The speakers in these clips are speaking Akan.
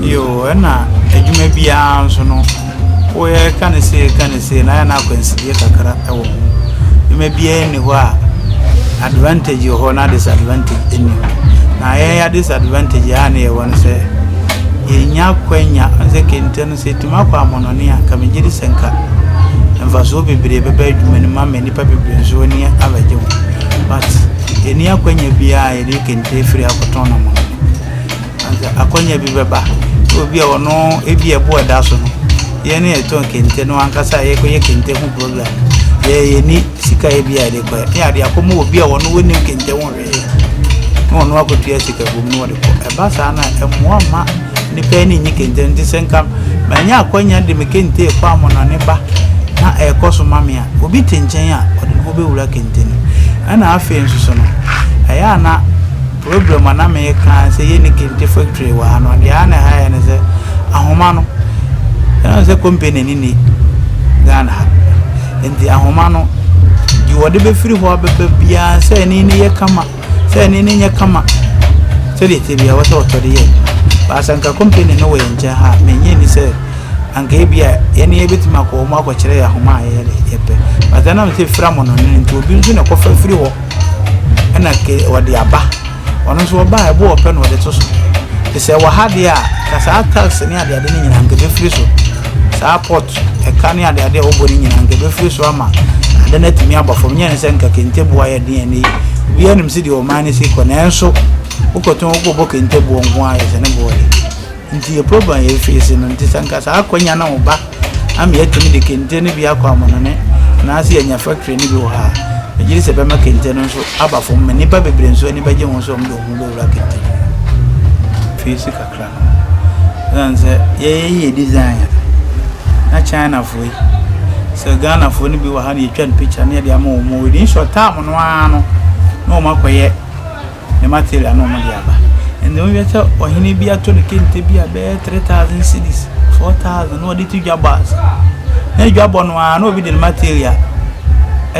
Yo, ɛna adwuma biara nso no woyɛ ka ne sei ka ne sei na ayɛ no akwansideɛ kakra wɔ ho adwuma biara nni hɔ a advantage wɔ hɔ na disadvantage nni hɔ na yɛn ya disadvantage a ne yɛwɔ no sɛ yɛnya kwanya sɛ kente no Sɛ etumi akɔ amɔnɔne a, nka migye di sɛ nka mfaso bebree bɛba adwuma no mu ama nnipa bebree nso ani abɛgye ho. But yenni akwannya biara a yɛde kente afiri akɔtɔn no amɔnɔne. Anka akwannya bi bɛba sɛ obi a ɔno ebi a ɛbo a ɛda so no, yɛn a yɛtɔn kente no ankasa a yɛkɔyɛ kente ho program no, yɛn ani sika a ebi a yɛde kɔyɛ ne ade akɔma obi a ɔno onnim kente ho hwee. na wɔn akɔtua sika bom na wɔde kɔ ɛba saa na ɛmmoa mma nnipa ani nye kente nti sɛ nka manya akwanya de me kente kɔ amɔnɔne ba na ɛrekɔ so ma me a obi te nkyɛn a ɔde ne ho bɛwura kente no ɛna afei nso so no ɛyɛ a na program a na meka sɛ yɛ ne kente factory wɔ ha no deɛ a na ɛha yɛ ne sɛ ahoma no ɛna sɛ company ni ni Ghana Enti ahoma no, deɛ wɔde bɛfiri hɔ abɛba biara sɛ ani no yɛ kama sɛ ani no nyɛ kama sɛdeɛ ɛteɛ biara wɔsɛ wɔtɔ de yɛ adwuma baasa nka kɔmpani no wɔ yɛn nkyɛn ha mennye ni sɛ anka ebi a yɛne yɛbɛtumi akɔ wɔn akɔkyerɛ yɛ ahoma a yɛyɛ de yɛpɛ baasa nam sɛ fira mo no no nti obi nso na ɛkɔfa firi hɔ ɛna ke wɔde aba Ɔno nso ɔbaa ɛbo ɔpɛ na ɔde to so. Te sɛ wɔ ha deɛ a, ka saa tax ne adeade no nyinaa nka ɛbɛfiri so. Saa pot, ɛka ne adeade a wobɔ no nyinaa nka ɛbɛfiri so ama ade no atumi aba fam. Nyɛ ne sɛ nka kente boɔ ayɛ den ɛnɛ yi. Obiara nim sɛdeɛ ɔman no si kɔ nanso wokɔtɔn wokɔbɔ kente boɔ nko ara yɛ sɛ ne boɔ yɛ. Nti yɛ program yɛ efiese no nti sɛ nka saa akwanya no ba ama yɛatumi de kente no bi akɔ amanɔne anaasɛ yɛanya factory no bi wɔ ha a, megye di sɛ ɛbɛma kente no nso aba fam ma nnipa bebree nso ani bɛgye ho sɛ wɔde wɔn ho bɛwura kente no mu. Efiese kakra no ho. Ɛsiane sɛ yɛyɛ yɛ design a, na Chinafoɔ yi, sɛ Ghanafoɔ no bi wɔ ha na yɛtwa no picture na yɛde ama wɔn a, within short time no ara no, na wɔakɔyɛ. ne material na wɔde aba. Ɛnna wohwɛ sɛ ɔhene bi ato no kente bi a ɛbɛyɛ three thousand cedis, four thousand na ɔde to dwabɔ ase. Na dwabɔ no ara na obi de ne material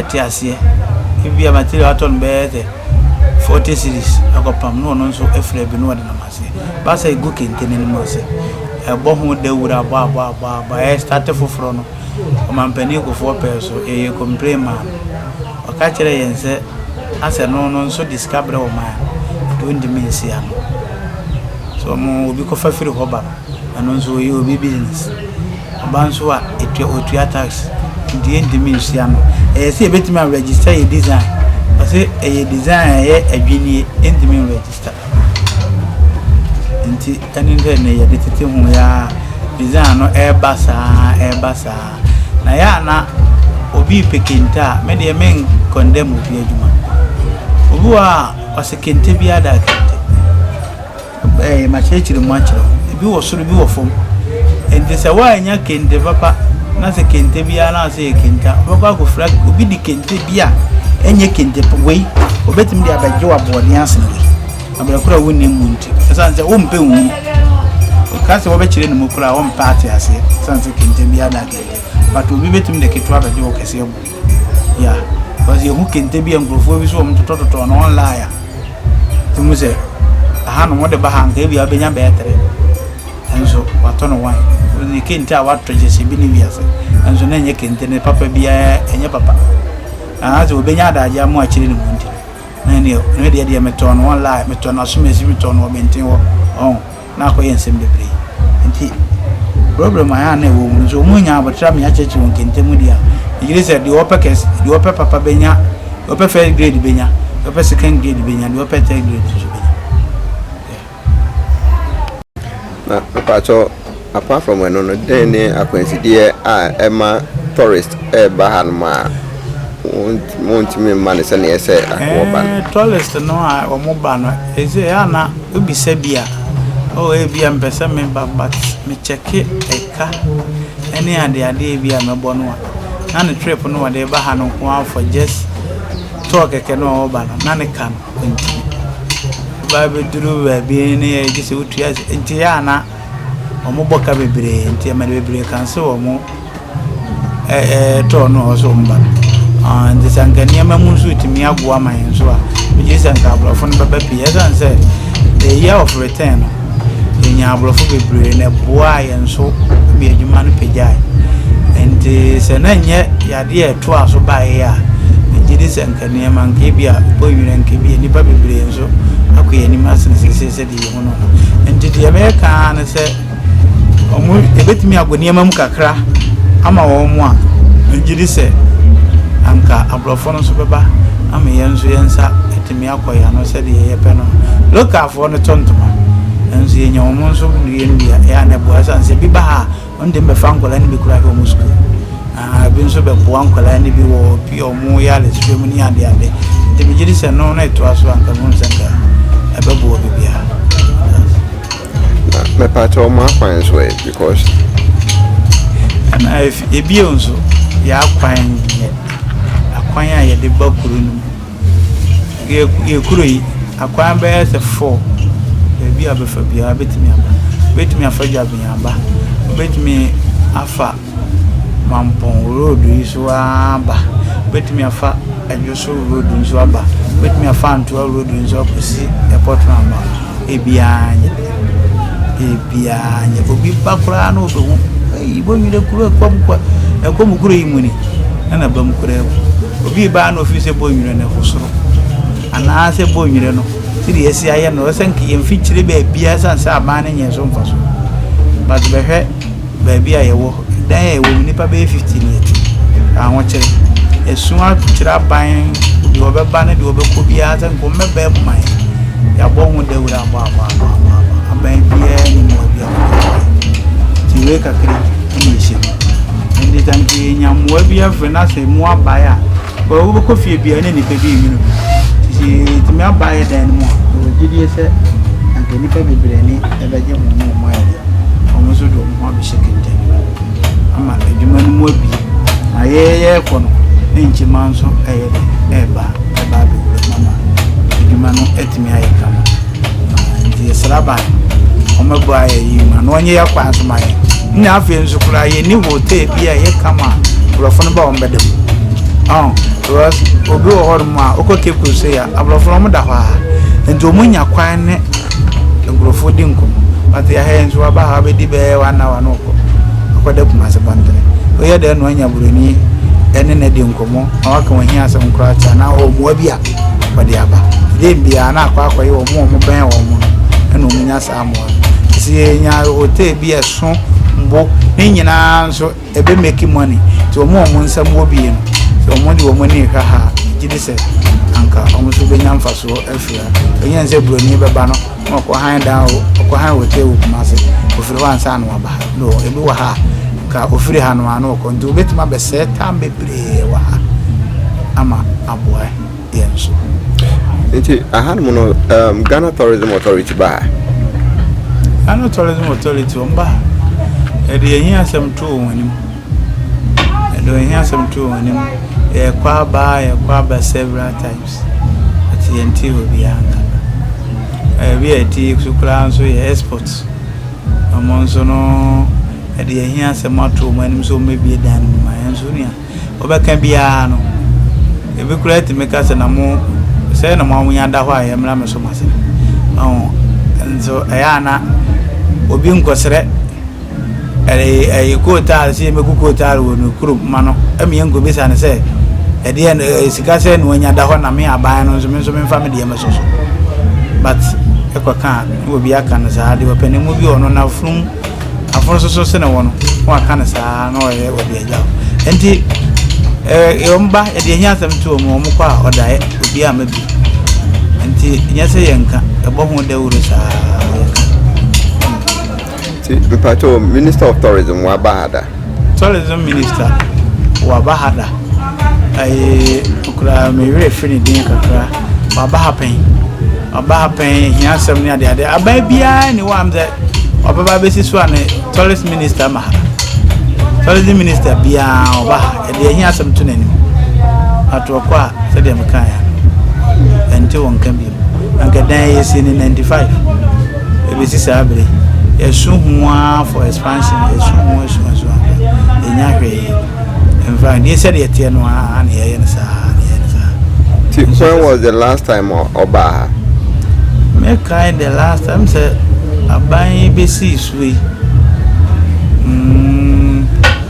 te aseɛ. Ebia material a watɔ no bɛyɛ sɛ forty cedis akɔpam na ɔno nso afira bi na ɔde nam aseɛ. Ba sɛ ɛgu kente no anim ase. Ɛbɔ ho dawuro abɔ abɔ abɔ abɔ ɛrestate foforɔ no, ɔmampanin Kufuor pɛɛ so, yɛyɛ complain maa no. Ɔka kyerɛɛ yɛn sɛ na sɛ no no nso de sika brɛ wɔn a, ɛde ontumi nsi ano. Sɛ wɔn obi kɔfa firi hɔ ba no, ɛno nso ɔyɛ obi business. Ɔba nso a, etua otua tax. Nti yɛntumi nsi ano. Ɛyɛ sɛ yɛbɛtumi a register yɛ design. Ɔse ɛyɛ design a ɛyɛ adwinnie, yɛntumi nregister. Nti ɛne sɛ nnɛ yɛde tete ho yi ara, design no ɛreba saa ara, ɛreba saa ara. Na ɛyɛ a na obi repɛ kente a, me deɛ men condemn obi adwuma. Obi wɔ a ɔsɛ kente bi ada kente. Ɛɛ makyerɛkyerɛ mu akyerɛ wo. Ebi wɔ soro, ebi wɔ fam. Enti sɛ woannya kente papa na sɛ kente biara na ɔsɛ yɛ kente a, wobɛkɔ akɔfira obi de kente bi a ɛnyɛ kente wei, obetumi de abɛgye wo aboɔden asene wei. aberekora a wonnim mu nti ɛsiane sɛ wompɛ nhu ɛka sɛ wɔbɛkyerɛ ne mu koraa a wɔmpɛ ate aseɛ ɛsiane sɛ kente biara da kente but obi bɛtumi de ketewa bɛgye wo kɛseɛ bo ya because yɛhu kente bi a nkurɔfoɔ bi so wɔn totɔtotɔ no wɔn laaya nti mu sɛ aha no wɔde ba ha nka ebi a wobɛnya bɛyɛ tere nso watɔ no wan ne kente a watɔ gye sɛ bi ne wiase nso na ɛnyɛ kente ne papa biara ɛnyɛ papa anaasɛ wɔbɛnya adagye ama akyerɛ ne mu nti Na ɛnneɛ, me deɛ deɛ metɔn no online, metɔn no Asomasi, metɔn no Ɔbɛnten hɔ, ɔho, na akɔyɛ nsɛm bebree. Nti, problem a na ɛwɔ mu no, sɛ wɔn nya abɔterɛ ama yɛakyerɛkyerɛ wɔn kɛntɛm deɛ a, megye di sɛ deɛ ɔpɛ kɛs, deɛ ɔpɛ papa bɛnya, deɛ ɔpɛ first grade bɛnya, deɛ ɔpɛ second grade bɛnya, deɛ ɔpɛ third grade nso bɛnya. Yeah. Na mepakyɛw apart from ɛno no dɛn ne akwansideɛ a ɛma tourist ɛreba ha nom a wɔntumi mma no sɛnea ɛsɛ sɛ anka wɔba no. Ɛɛ tourist no a wɔn ba no ɛsɛ yɛ ana wobisa bi a oh ebi a mpɛ sɛ meba but me check ɛka ɛne adeade ebi a mɛbɔ no a na ne trip no wɔde ba ha no nko ara for just tour kɛkɛ no a ɔreba no na ne ka no. nti ba bɛduru baabi ne yɛ gye sɛ wotua nti yɛ ana wɔn bɔ ka bebree nti ɛma de bebree kan so wɔn ɛtɔɔ no a wɔsɔ wɔn ba no nti sɛ nka nneɛma mu nso tumi aboa ma yɛn nso a megye sɛ nka aborɔfo no bɛba pii ɛsiane sɛ the year of return no yɛnya aborɔfo bebree na ɛboaa yɛn nso ma adwuma no pagyae nti sɛ na nyɛ yadeɛ ɛtoa so baeɛ a megye di sɛ nka Nneɛma nkabi a ɛbɔ nwira nkabi a nnipa bebree nso akɔ yɛn anim asene seesei sɛdeɛ yɛhu no no. Nti deɛ mɛka ara ne sɛ wɔn ɛbɛtumi abɔ nneɛma mu kakra ama wɔn a megye di sɛ anka aborɔfo no nso bɛba ama yɛn nso yɛn nsa atumi akɔ yɛn ano sɛdeɛ yɛpɛ no. Lokalfoɔ no tɔ ntoma nanso yɛnya wɔn nso nnua nnua ɛyɛ a na ɛboa ɛsiane sɛ bi ba ha a Wɔn de bɛfa nkwadaa no bi koraa hwɛ wɔn sukuu. Ahaa ebi nso bɛboa nkwadaa no bi wɔ ebi a wɔn yɛ adesrɛ mu ne ade ade. Nti megye di sɛ no na ɛtoa so a nka mehu sɛ nka ɛbɛboa biribiara. Na mɛpakyɛ wɔn akwan nso ɛ because. Ɛna efi ebie nso yɛ akwan yɛ akwan a yɛde ba kuro no mu. Yɛ yɛn kuro yi, akwan bɛyɛ sɛ four, baabi a bɛfa biara bɛtumi aba. Wobɛtumi afa Dwaben aba, wobɛtumi afa Mampɔn road yi so ara aba, wobɛtumi afa Adwo so road yi so aba, wobɛtumi afa Antoa road yi so akɔsi airport round about. Ebi ara nyɛ. Ebi ara nyɛ. Obi ba koraa na ɔbɛhu. Eyi bɔ nwere kuro ɛkɔ mu kwa. Ɛkɔ mu kuro yi mu ni. Ɛna ba mu koraa mu. Obi ba na ɔfiri sɛ bɔ nwere no ɛfo soro. Anaasɛ bɔ nwere no. Sidi yɛsi ayɛ no. Ɛsɛ nka yɛn mfikyire baabiara sane sɛ aban no nyɛ so mfa so. But bɛhwɛ. baabi a yɛwɔ, dan a yɛwɔ mu, nnipa bɛyɛ 50 ni ati ahokyere. Ɛso akyerɛ aban deɛ ɔbɛba ne deɛ ɔbɛkɔ biara sɛ nka ɔmmɛbɛɛ mu ma yɛ. Yɛabɔ ho dawuro abɔ abɔ abɔ abɔ abɔ. Aban biara ni mu baabi a ɔbɛkɔ. Nti wei kakra ɛna ɛhyɛ mu. Ɛnde sɛ nka yɛnya mmoa bi afiri no asɛ mu abae a, Bɔ wobɛkɔ fie bia ne nipa bi nwunu bi nti tumi aba yɛ dan no mu a yɛwɔ gyidie sɛ anka nipa bebree ne ɛbɛgye ho ne wɔn ayɛ dɛ wɔn nso de wɔn ho abɛhyɛ kɛntɛn no ama adwuma no mu abie na yɛyɛ kɔ no nkyema nso ɛyɛ dɛ ɛba ɛba abɛwura mu ama adwuma no tumi ayɛ kama nti yɛsrɛ ban wɔmɛbɔ ayɛ yi ma na wɔnyɛ yɛ kwan so ma yɛ na afei nso koraa yɛni hotel bi a ɛyɛ kama nkurɔfo no ba wɔn bɛda mu ɔn because obi wɔ hɔnom a wokɔ cape coast yɛ aborɔfo no wɔn da hɔ a nti wɔn nya kwan ne nkurɔfo di nkɔmɔ pati ahɛ nso waba ha wabɛdi bɛyɛ wɔn awa no kɔ akɔda kuma ase bɔntene oyɛ dɛ na wɔnya buroni ɛne na di nkɔmɔ na waka wɔn hi asɛm koraa kyɛ na wɔn mmoa bi a wɔde aba dɛm biara na akɔ akɔyɛ wɔn a wɔbɛn wɔn no ɛna wɔn nya saa mmoa no nti yɛnya hotel bi ɛso bo ne nyinaa nso ɛbɛ make money nti wɔn a wɔn nsɛm wɔ bie no sɛ wɔn de wɔn ani hwɛ ha gye de sɛ anka wɔn nso bɛnya mfasoɔ afiri ha ɛnyɛ sɛ buroni bɛba no na ɔkɔ han dan o ɔkɔ han hotel wɔ kuma ase ofiri hɔ ansa na waba ha no ebi wɔ ha a nka ofiri ha no ano ɔkɔ nti obɛtumi abɛsɛɛ tam bɛ bebree wɔ ha ama aboa yɛn nso. Nti ahanom no um, Ghana Tourism Authority baa. Ghana Tourism Authority wɔn baa ɛde yɛn yɛn asɛm to wɔn anim ɛde yɛn yɛn asɛm to wɔn anim yɛkɔ aba yɛkɔ aba several times ɛte yɛn ti wɔ biara nka ɛbi a ɛte so koraa nso yɛ export wɔn nso no. Ɛdeɛ ɛhia sɛ moato wɔn anim sɛ wɔmmɛbue dan no mu ma yɛn, nanso nea wɔbɛka biara no, ebi koraa tumi ka sɛ, na mo, sɛɛ na mo ahonya da hɔ a yɛmmra me som ase. Ɔho, nso ɛyɛ a na obi nkɔsrɛ ɛɛ, ɛɛ, kootaale sɛ yɛmmɛku kootaale wɔ ne kurom ma no, ɛma yɛnkɔbisa no sɛ, ɛdeɛn, ɛɛ, sika sɛn na wanya da hɔ na me aban no nso, me nso memfa me deɛ mmɛsɔ so. But ɛkɔka a, na obi aka no saa, deɛ ɔpɛ ne mu bi wɔ no, n'afunumu. afono so so sene wo no na waka no saa na ɔyɛ ɔde agya wo nti ɛɛ wɔn ba yɛde ɛhi asɛm to wɔn wɔn kɔ a ɔdaeɛ obi a mɛbi nti nyɛ sɛ yɛn nka ɛbɔ ho dawuro saa yɛka. nti mpatɔ minister of tourism waba ha da. Tourism minister waba ha da ɛyɛ okura me werɛ firi ne din kakra waba ha pɛn waba ha pɛn ehia asɛm ne adeade aban biara ni wɔ am sɛ ɔbɛba abɛsi so a ne tourist minister ma ha tourism minister biara ɔba ha. Ɛde ɛhe asɛm to n'anim? Atoɔ kɔ a sɛdeɛ mekaeɛ no, ɛnte wɔn nka bio. Anka dan a yɛsii no ninety five ɛbɛsi saa berɛ yi, yɛasu ho ara for expansion, yɛasu ho asu asu asu, yɛnnya hwee. In fact, deɛ sɛdeɛ ɛteɛ no ara na yɛyɛ no saa ara, na yɛyɛ no saa ara. Nti Nso when sɛ was the last time ɔ- ɔbaa ha? mɛkae the last time sɛ aban yi bɛsii so yi, mm,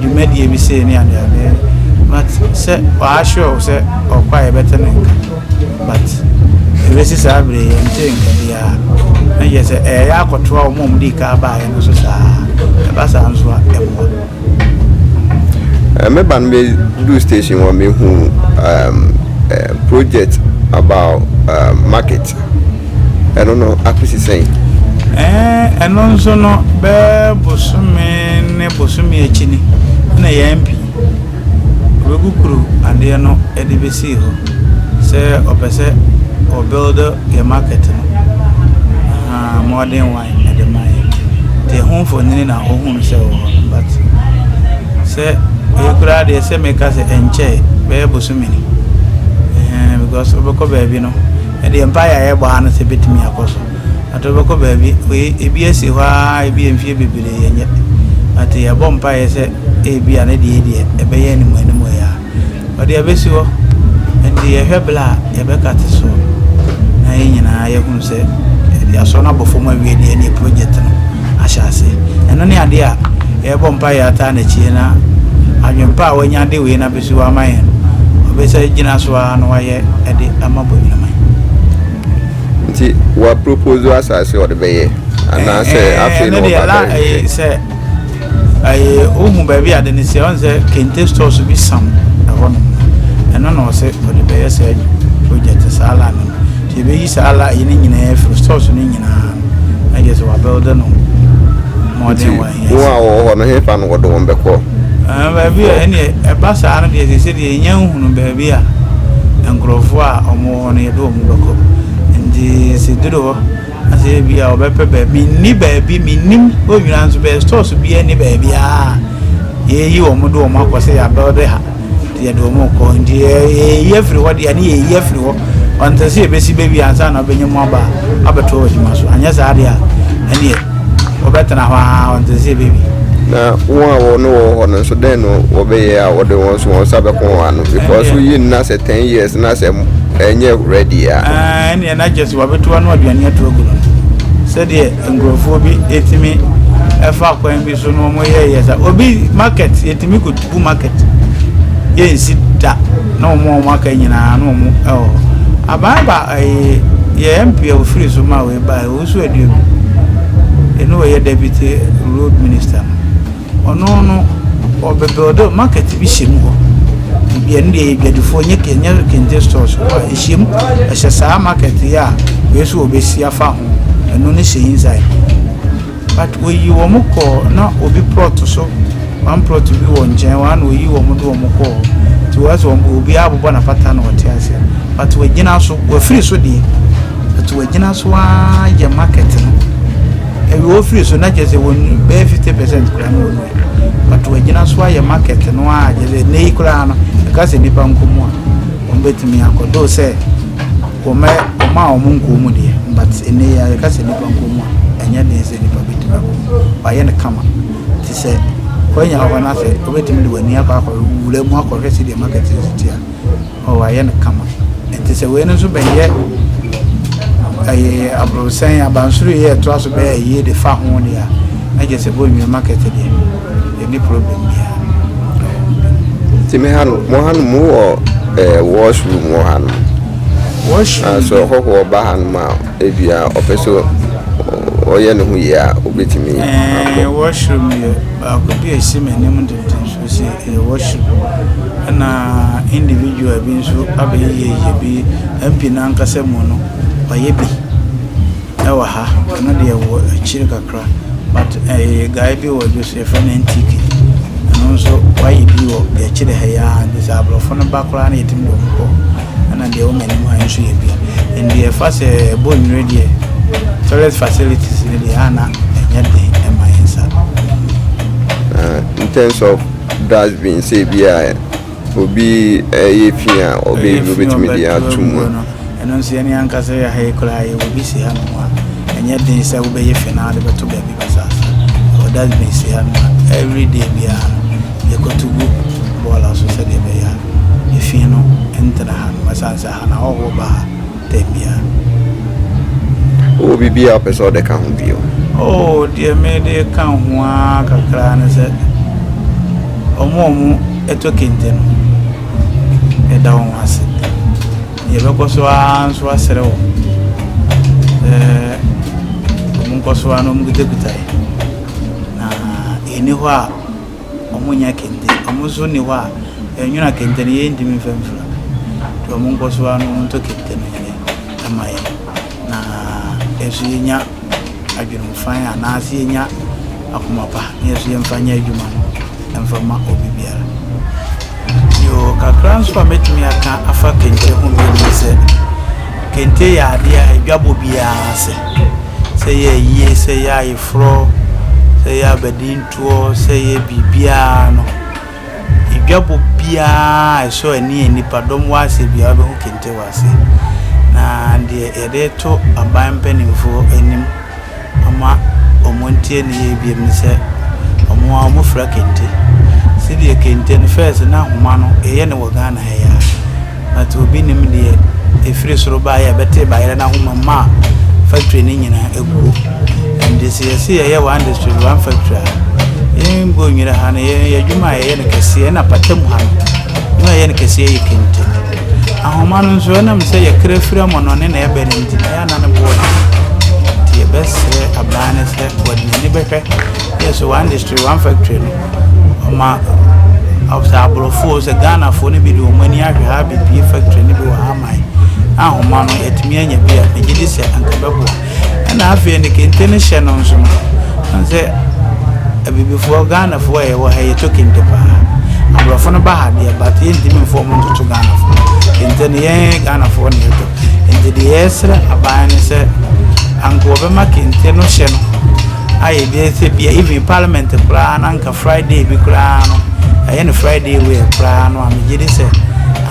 dwumadie bi sei ne adeade not sɛ ɔa sure wo sɛ ɔɔkɔ a yɛbɛte ne nka but ɛbɛsi saa berɛ yi yɛntee nka biara na kyerɛ sɛ ɛyɛ akɔtoa wɔn a wɔdii kan baeɛ no so saa ɛba saa nso a ɛmmoa meba no bɛduu station hɔ mehu um, uh, project about uh, market ɛno no akosi sɛn? Ɛno nso no, bɛyɛ bosome ne bosome akyi ni na yɛn pii wɔbɛkukuru adeɛ no de bɛsii hɔ sɛ ɔpɛ sɛ ɔ build yɛ market no. Ahaa, Modern Wine de ma yɛn. Nti ɛho mfonini na ɔhunu sɛ ɛwɔ hɔ no but sɛ wei koraa deɛ sɛ meka sɛ ɛnkyɛe bɛyɛ bosome ni. Ɛhɛn, because wobɛkɔ baabi no. Ɛndeɛ mpaeɛ a yɛbɔ ha no sɛ ɛbɛtumi akɔ so but wobɛkɔ baabi wei ɛbi asi hɔ aa ɛbi mfeɛ bebree yɛnyɛ but yɛbɔ mpaeɛ sɛ ɛbia ne deɛ deɛ ɛbɛyɛ anim anim yi aa wɔde abɛsi hɔ ɛnde yɛhwɛ berɛ a yɛbɛka te soɔ na yɛn nyinaa yɛhunu sɛ yɛasɔ no abɔ fam awie deɛ ɛndeɛ project no ahyɛ aseɛ ɛno ne adeɛ a yɛbɔ mpaeɛ ataa nakyie na adwempa a wanya de wei na So wama yɛn? Ɔbɛsa agyina so ara na wayɛ de ama Boagyinaman. Nti wa propose asase a ɔde bɛyɛ anaasɛ afei na ɔba bɛhwehwɛ? Ɛno deɛ na sɛ ɛyɛ ohu baabi ade no sɛ ɔn sɛ kente stores bi sam ɛhɔ nom no ɛno na ɔsɛ ɔde bɛyɛ saa project saa la no no nti yɛbɛyi saa la ɛyɛ no nyinaa afiri stores no nyinaa no na gye sɛ wa build no mmɔden wa Wɔn a wɔwɔ hɔ no, hefa na wɔde wɔn bɛkɔ? Baabi a ɛnneɛ ɛba saa no deɛ, seesei deɛ yɛnnya nhunuu baabi a nkurɔfoɔ a wɔwɔ hɔ no yɛde wɔn bɛkɔ. Nti sɛ duru hɔ na sɛ ebia wɔbɛpɛ baabi, menni baabi, mennim hɔ nyinaa nso bɛyɛ stores biara nni baabiara a yɛyi wɔn de wɔn akɔ sɛ yɛabɛɔde ha. nti yɛde wɔn rekɔ. Nti yɛreyi afiri hɔ deɛ a, ne yɛreyi afiri hɔ. Ɔntɛ sɛ yɛbɛsi bɛwie ansa na ɔbɛnya mu aba abɛtoa wɔ adwuma so. Anyɛ saa deɛ a, ɛneɛ wɔbɛtena hɔ ara, ɔntɛ sɛ yɛbɛwie. Na wɔn a wɔne wɔ hɔ no nso, dɛn na wɔbɛyɛ a wɔde wɔn nso wɔn nsa bɛko wɔn ano? Because woyi no na sɛ ten years na sɛ ɛnyɛ ready a. Ɛneɛ na kyerɛ sɛ wɔabɛtu ano aduane ato agu no no. Sɛdeɛ nkurɔfoɔ bi ɛtumi ɛfa kwan bi so na wɔn yɛ yɛ sa obi market yɛtumi kɔ bu market yɛ nsi da na wɔn a wɔn aka nyinaa na wɔn ɛwɔ aban ba ɛyɛ yɛ mp a ofiri so ma wɔn ba ɛwɔ so aduom ɛnu wɔyɛ deputy road minister no. Ɔno no ɔbɛbuild oh market bi hyɛ mu hɔ baabi a ɛno deɛ yɛ adwadifoɔ nyɛ ke nyɛ kente stores hɔ a ɛhyɛ mu ɛhyɛ saa market yɛ a wei nso wɔbɛsi afa ho ɛno no hyɛ inside but wɔyi wɔn kɔɔ na obi plot so one plot bi wɔ nkyɛn hɔ a na wɔyi wɔn de wɔn kɔɔ nti wɔyɛ sɛ wɔn obi abobɔ n'apata na wɔte aseɛ but wɔagyina so wɔafiri so deɛ but wɔagyina so ara yɛ market no Ebi wɔ hɔ firi so na kyerɛ sɛ wɔn bɛyɛ fifty percent koraa na wɔn wɔ but wɔagyina so ayɛ market no a kyerɛ sɛ nnɛ yi koraa no ɛka sɛ nipa nkɔ mu a wɔn bɛtumi akɔ do sɛ wɔn wɔn a wɔn nkɔ mu deɛ but nnɛ yi a yɛka sɛ nipa nkɔ mu a ɛnyɛ den sɛ nipa bɛtumi akɔ mu wɔayɛ no kama te sɛ wɔanya hɔ no asɛ wɔbɛtumi de wɔn ani akɔ akɔ wura mu akɔhwɛ sɛdeɛ market no si te a Oh, ayɛ no kama. Enti sɛ wei no nso bɛyɛ ɛyɛ abrosɛn abansoro yi ɛtoa so bɛyɛ yie de fa ho deɛ a na kyerɛ sɛ bɔnwini market deɛ ɛni problem biara nti me ha no mo ha no mu wɔ ɛɛ washroom wɔ ha no washroom nanso ah, ɔhɔhoɔ ba ha no mu a ebia ɔpɛ sɛ ɔyɛ ne ho yie a obetumi akɔ washroom yɛ baako bi a esi m'anim dendenden so Ɔsi ɛyɛ worship ɛna individual bi nso abɛyɛ yɛyɛ bi MP no ankasa mu no wayɛ bi ɛwɔ ha ɛno deɛ wɔ akyiri kakra but ɛyɛ guy bi wɔ Jos yɛfrɛ no NTK ɛno nso wayɛ bi wɔ deɛ akyiri ha yi ara nti sɛ aborɔfo no ba koraa na yɛtumi de wɔn kɔ ɛna deɛ wɔ m'anim ha nso yɛ bi and deɛ ɛfa sɛ ɛbɔ nnwere deɛ toilet facilities no deɛ a na ɛnyɛ den ɛma yɛn nsa. In terms of dustbin sɛ ebi a obi ɛyɛ fi a ɔbɛ yi obetumi de ato mu. ɛno nso yɛne ankasa yɛ ha yi koraa yɛwɔ bi si ha nom a ɛnyɛ den sɛ wobɛyɛ fi na de bɛto baabi basaasa ɛwɔ dustbin si ha nom a every day biara no yɛkɔto gu bɔɔla so sɛdeɛ ɛbɛyɛ a efi no ntena ha nom ɛsiane sɛ ha no ahɔhoɔ ba ha da biara. Wowɔ biribi a wopɛ sɛ wode ka ho bio? Oh, deɛ mede ka ho ara kakra ne sɛ, wɔn a wɔtɔ kente no, yɛda wɔn ase. Yɛbɛkɔ so ara nso asrɛ wɔn sɛ wɔnkɔ so ara na wɔkitakita yɛn, na yɛnni hɔ a, Ɔmo nya kente, ɔmo so nni hɔ a ɛnwona kente no yɛn ntumi nfa mfra. Nti ɔmo nkɔ so ara na ɔmo ntɔ kente no nyɛ dɛ ma yɛn. Na yɛn so yɛn nya adwenemfan anaa se yɛn nya akoma pa na yɛn so yɛn fa nyɛ adwuma no ɛnfa ma obi biara. Yoo, kakra nso a mɛtumi aka afa kente ho bio ne sɛ, kente yɛ adeɛ a ɛdwa bɔ biara sɛ. Sɛ yɛ ayie, sɛ yɛ ayeforɔ, sɛ yɛ abadin. toɔ sɛ yɛ biribiara no, edwabɔ biara a ɛsɔ ani a nnipa dɔm wɔ ase biara wobɛhu kente wɔ ase. Na deɛ yɛde to aban mpanimfoɔ anim ama wɔn ntie ne yie biom ne sɛ wɔn ara wɔfira kente. Sedeɛ kente no first na ahoma no yɛyɛ no wɔ Ghana ha yi ara. but obi nim deɛ ɛfiri soro baeɛ a ɛbɛtee bayerɛ no ahoma mu a factory no nyinaa aguo ɛnde sɛ yɛse yɛyɛ one district one factory a yɛn bɔ nwira ha no yɛyɛ adwuma a yɛyɛ no kɛseɛ na pata mu ha no adwuma a yɛyɛ no kɛseɛ yɛ kente ahoma no nso ɛnam sɛ yɛkra firi amɔnɔne na ɛbɛ no nti na yɛana no boɔ nti yɛbɛsrɛ abaa no sɛ wɔde n'ani bɛhwɛ yɛ so one district one factory no Ɔma sɛ aborɔfo sɛ Ghanafoɔ no bi de wɔn ani ahwɛ ha abɛbie factory no bi wɔ ha man na ahoma no atumi anya bi a megye di sɛ anka bɛboa ɛna afei ne kente no hyɛ no nso no ɛne sɛ abibifoɔ Ghanafoɔ a yɛwɔ ha yɛtɔ kente paa aborɔfo no ba ha deɛ but yɛntumi mfa wɔn ntoto Ghanafoɔ kente no yɛn Ghanafoɔ na yɛtɔ nti deɛ yɛsrɛ aban no sɛ anka wɔbɛma kente no hyɛ no ayɛ bi sɛ bia even parliament koraa na nka Friday bi koraa no ɛyɛ no Friday wei koraa no a megye di sɛ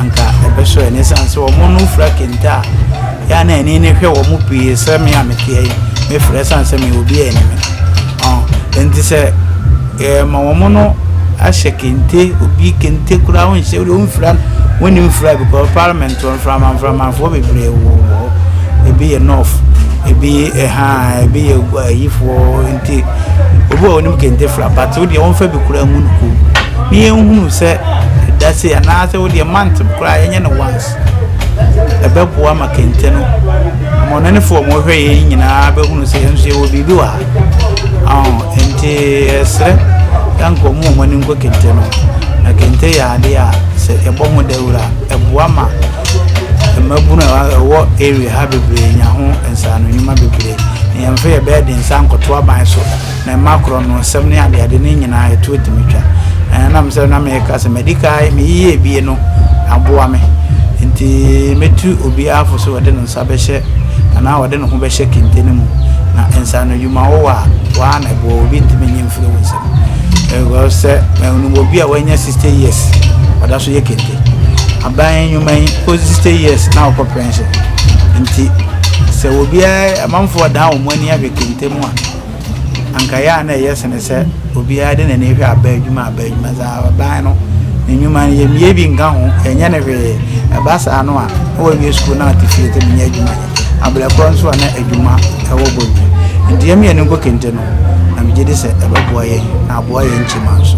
anka ɛbɛsɔ ɛne san sɛ wɔn no fura kente a yɛa na ani ne hwɛ wɔn pii sɛ me a meteɛ yi mefrɛ san sɛ me obi a anime ɔn nti sɛ ɛma wɔn no ahyɛ kente obi kente koraa wɔnhyɛ wɔn mfira wɔn mfira because parliament So mframa mframafoɔ bebree wɔ wɔ hɔ ebi yɛ nɔf ebi ɛha ebi yɛ ayifoɔ nti obi a onim kente fra but wo deɛ wɔnfa bi koraa ngu no kɔn mu ne yɛn hunu sɛ ɛda se anaasɛ wo deɛ mant koraa yɛnyɛ no once ɛbɛboa ma kente no wɔn nanifoɔ wɔn hwɛ yɛn nyinaa bɛhunu sɛ yɛn nso yɛwɔ biribi wɔ ha nti ɛsrɛ yanka wɔn a wɔn ani nkɔ kente no na kente yɛ adeɛ a sɛ ɛbɔ ho dawura. ɛboa ma mmabunu a ɛwɔ area ha bebree nya ho nsaano nnwuma bebree. Nhwɛmfo yɛ bɛyɛ de nsa nkɔto aban so na ɛma korɔ no nsɛm ne adeade no nyinaa ɛto atumi twa. Ɛɛ nam sɛ na meka sɛ madi kan meyiyɛ ebie no aboa me nti mɛtu obiara fo sɛ ɔde ne nsa bɛhyɛ anaa ɔde ne ho bɛhyɛ kente no mu na nsaano nnwuma wowɔ a waa na ɛboa obi ntumi nye mfiri wo nsam. Ɛwɔ sɛ ɛwɔ obi a wanya 60 years ɔda so yɛ kente. aban nnwuma yi kɔ sixty years na ɔkɔ pension nti sɛ obiara amanfoɔ dan wɔn ani ahwɛ kente mu a anka yɛ a na ɛyɛ sene sɛ obiara de n'ani hwɛ aban adwuma aban adwuma sɛ aban no ne nnwuma no yɛmmie bi nka ho yɛnyɛ no hwee ɛba saa no a na wɔawie sukuu na ate fie te menyɛ adwuma yɛ abrɛ korɔ nso a na adwuma ɛwɔ bɔ bi nti yɛmi yɛn nkɔ kente no na megye di sɛ ɛbɛboa yɛn na aboa yɛn nkyima nso